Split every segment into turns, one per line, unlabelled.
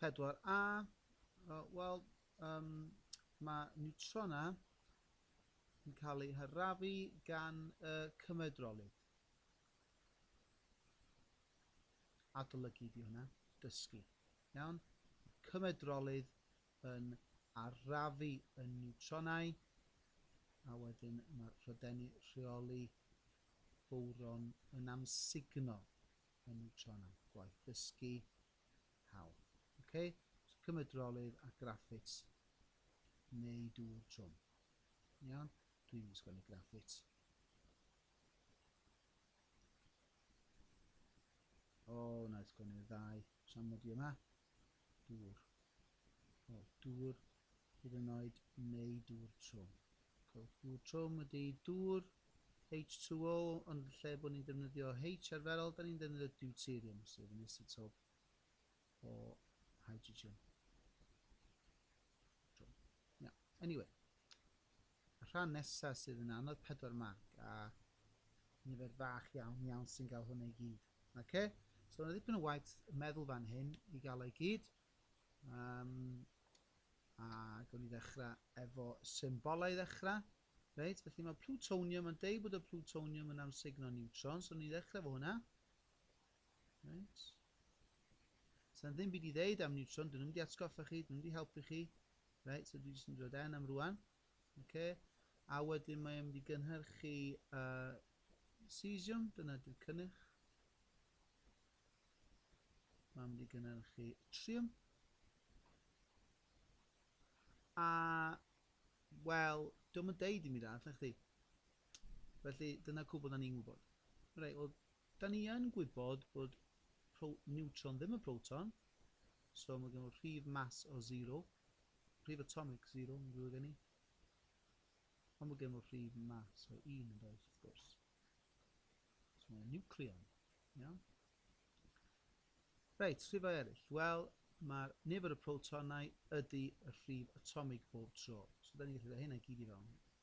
4A, wel, um, mae neutrona yn cael eu harafu gan y cymedrolydd. Adolygu di hwnna, dysgu. Iawn? Cymedrolydd yn arafu y neutronau, a wedyn mae'r rhydeni rheoli bowron yn amsugno Enw Sianel, Gwaith Dysgu, Hawl. Ok, so cymryd drolydd a graffit neu dŵr trwm. Iawn, dwi'n mynd sgwennu graffit. O, na i sgwennu'r ddau, siam mod i yma. dŵr, o, dŵr hyd yn oed neu dŵr trwm. Cewch dŵr trwm ydy dŵr H2O, ond yn lle bod ni'n defnyddio H arferol, da ni'n defnyddio deuterium, sef yn isotop o hydrogen. Trwm. Now, anyway. Y rhan nesa sydd yn anodd pedwar marc a nifer fach iawn iawn sy'n gael hwnna i gyd. Ok? So yna ddipyn o waith meddwl fan hyn i gael ei gyd. Um, a gawn ni ddechrau efo symbolau i ddechrau. Reit, felly mae plutonium yn deud bod y plutonium yn amsugno neutrons, so ni'n ddechrau efo hwnna. Reit. Sa'n ddim byd i ddeud am Newton, dyn nhw'n mynd i atgoffa chi, dyn nhw'n mynd i helpu chi. Reit, so dwi jyst yn dod en am rwan. Okay. A wedyn mae mynd i gynhyrchu uh, cesium, dyna dwi'n cynnyrch. Mae'n mynd i gynhyrchu triwm. A, wel, dwi'n mynd deud i mi dda, lle chdi. Felly, dyna cwbl da ni'n gwybod. Reit, well, Da ni yn gwybod bod pro niwtron ddim yn proton, so mae gen nhw rhif mass o zero, rhif atomig zero, mae'n ddrwg gen i. Ond mae gen nhw rhif mass o un yn does, wrth gwrs. So mae'n niwcleon, iawn? Reit, rhifau eraill. Wel, mae'r nifer y protonau ydy y rhif atomig bob tro. So da ni'n gallu rhoi hynna gyd i fewn.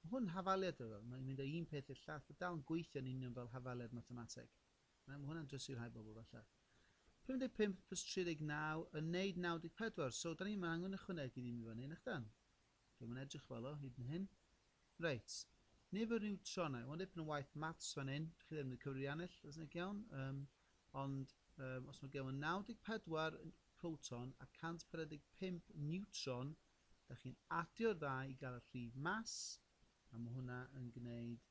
Mae hwn yn hafaliad rhyfel, mae'n mynd o un peth i'r llall, a dal yn gweithio yn union fel hafaliad mathemateg. Na, mae hwnna'n drysur rhai bobl, falle. 55 plus 39 yn neud 94, so da ni ddim yn angen ychwanegu ddim i fyny, nach dan? Dwi'n yn edrych fel o, hyd yn hyn. Reit. Nifer niwtronau, mae'n dipyn o waith maths fan hyn, dych chi ddim yn y cyfrianell, os nag iawn, um, ond um, os mae gen 94 proton a 145 niwtron, Dach chi'n adio'r ddau i gael y rhif mas, a mae hwnna yn gwneud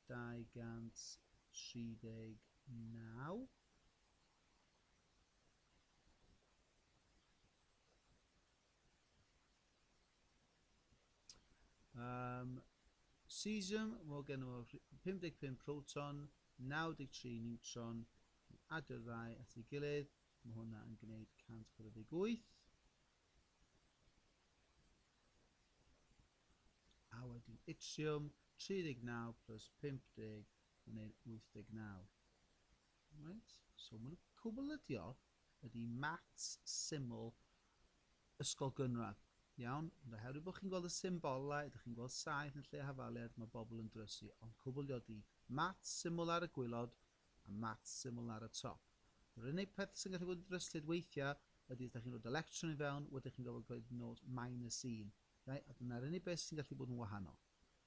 239. Um, cesium, mae gen nhw 55 proton, 93 neutron, adio'r ddau at ei gilydd, mae hwnna yn gwneud 148. A wedyn yttriwm, 39 plus 50, mae'n ein 89. Right? So mae'n cwbl ydio, ydy maths syml ysgol gynradd. Iawn, ond oherwydd bod chi'n gweld y symbolau, ydych chi'n gweld saith yn lle hafaliad, mae bobl yn drysu, ond cwbl ydi, maths syml ar y gwylod, a maths syml ar y top. Yr unig peth sy'n gallu bod yn ddryslyd weithiau ydy os da chi'n rhoi electron i fewn, wedyn chi'n gorfod gwneud nod minus 1. Right? A dyna'r unig beth sy'n gallu bod yn wahanol.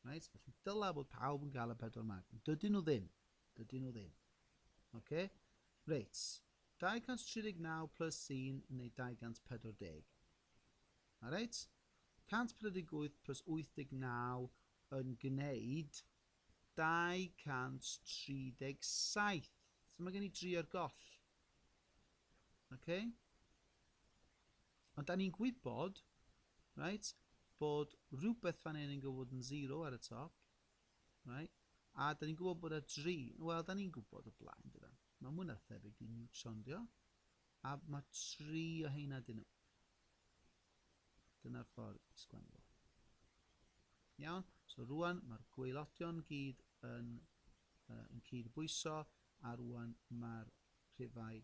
Right? Felly dyla bod pawb yn cael y pedwar mag. Ond dydyn nhw ddim. Dydyn nhw ddim. Okay? Reit. 239 plus 1 yn ei 240. Alright? 148 plus 89 yn gwneud 237. So mae gen i 3 ar goll. Okay? Ond da ni'n gwybod, right, bod rhywbeth fan hyn yn gwybod yn 0 ar y top. Right? A da ni'n gwybod bod y 3. Wel, da ni'n gwybod o blaen, dyna. Mae mwy na thebyg i Newton, dio. A mae 3 o heina dyn nhw. Dyna'r ffordd i sgwennu fo. Iawn? So rwan mae'r gweilodion gyd yn, uh, yn cyd-bwyso a rwan mae'r rhifau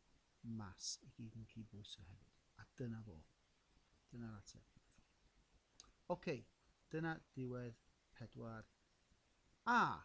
mas i gyd yn cyd-bwyso hefyd. A dyna fo. Dyna'r ateb. Oce, okay, dyna diwedd pedwar A.